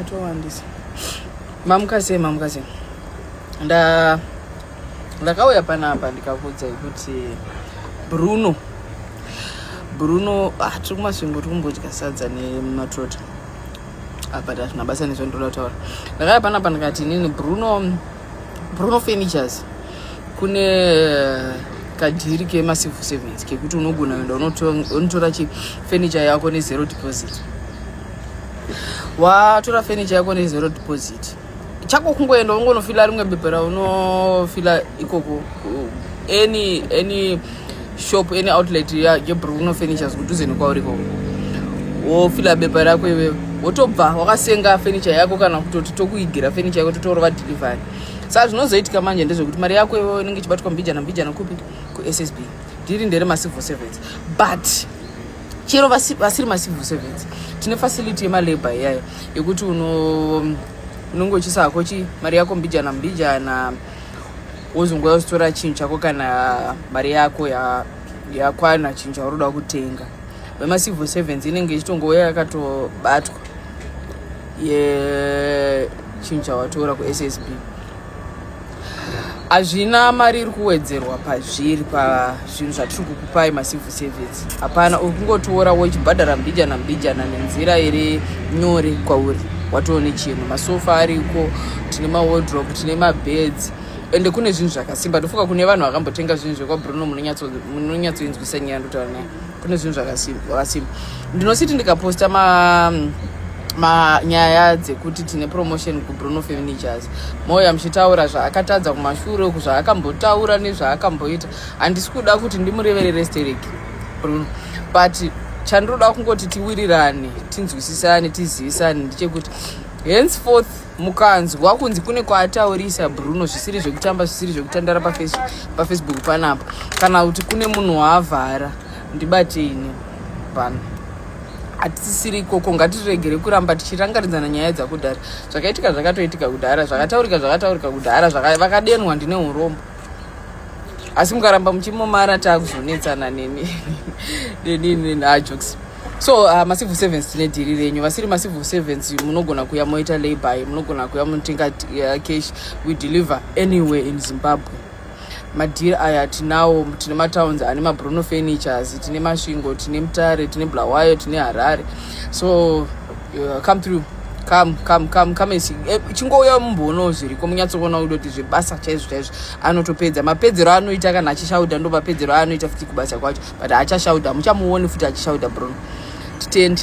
atowandisa mamuka sei mamuka sei nda ndakauya panapa ndikakuudzai kuti bruno bruno ah, tiri kumasvingo tiri kumbodya sadza nematrota ah, but hazvina basa nezvandoda kutaura ndakauya panapa ndikati inini bruno Bruno Furnitures kune eh, kadhiri kemacivil servants kekuti unogona kuenda unotora chifurniture yako nezero deposit watora furniture yako nezero deposit chako kungoenda ungonofila rimwe bepa raunofila ikoko any any shop any outlet yebruno furnitures kudhuze nekwauri ko wofila bepa rako iwewe wotobva wakasenga furniture yako kana kutoti tokuigira furniture yako totorova delivery saka zvinozoitika manje ndezvekuti mari yako iwewe inenge ichibatwa mbijana mbijana kupi kussb ndiri ndere macivil servants but chero vasiri macivil servants tine facility yemalabor iyayo yekuti unonge uchisa hako chi mari yako mbijana mbijana wozongoya uzitora chinhu chako kana mari yako yakwana ya chinhu chauroda kutenga wemacivil servants inenge ichitongoya yakatobatwa yechinhu chawatora kussb hazvina mari iri kuwedzerwa pazviri pa zvinhu zvatiri kukupai macivil service hapana uri kungotiora wochibhadhara mbijana mbijana nenzira iri nyore kwauri watoone chinhu masofa ariko tine mawodrop tine mabeds ende kune zvinhu zvakasimba ndofunga kune vanhu vakambotenga zvinhu zvekwabruno munonyatsoinzwisa nyaya ndotaura naye kune zvinhu zvakasimba ndinositi ndikaposta ma manyaya dzekuti tine promotion kubruno furnitures moya muchitaura zvaakatadza kumashure uku zvaakambotaura nezvaakamboita handisi kuda kuti ndimureverere stereki bruno but chandinoda kungoti tiwirirane tinzwisisane tizivisane ndechekuti henceforth mukanzwa kunzi kune kwaataurisa bruno zvisiri zvekutamba zvisiri zvekutandara pafacebook panapa kana kuti kune munhu waavhara ndibateine pano hatisisiri ikoko ngatiregere kuramba tichirangaridzana nyaya dzakudhara zvakaitika zvakatoitika kudhara zvakataurika zvakataurika kudhara vakadenwa ndine urombo asi mukaramba muchimomara takuzonetsana neni neni neni ajokes so uh, macivil servants tine dhiri renyu vasiri macivil servants munogona kuya moita labor munogona kuya munotenga uh, cash we deliver anywhere in zimbabwe madhiri aya tinawo tine matowns ane mabruno furnitures tine masvingo tine mutare tine blawayo tine harare so uh, come through come come come come and see eh, chingouya mumbono zviriko munyatsoona udo kuti zvebasa chaizvo chaizvo anotopedza mapedzero anoita kana achishauda ndo mapedzero anoita futi kubasa kwacho but achashauda muchamuoni futi achishauda bruno titendi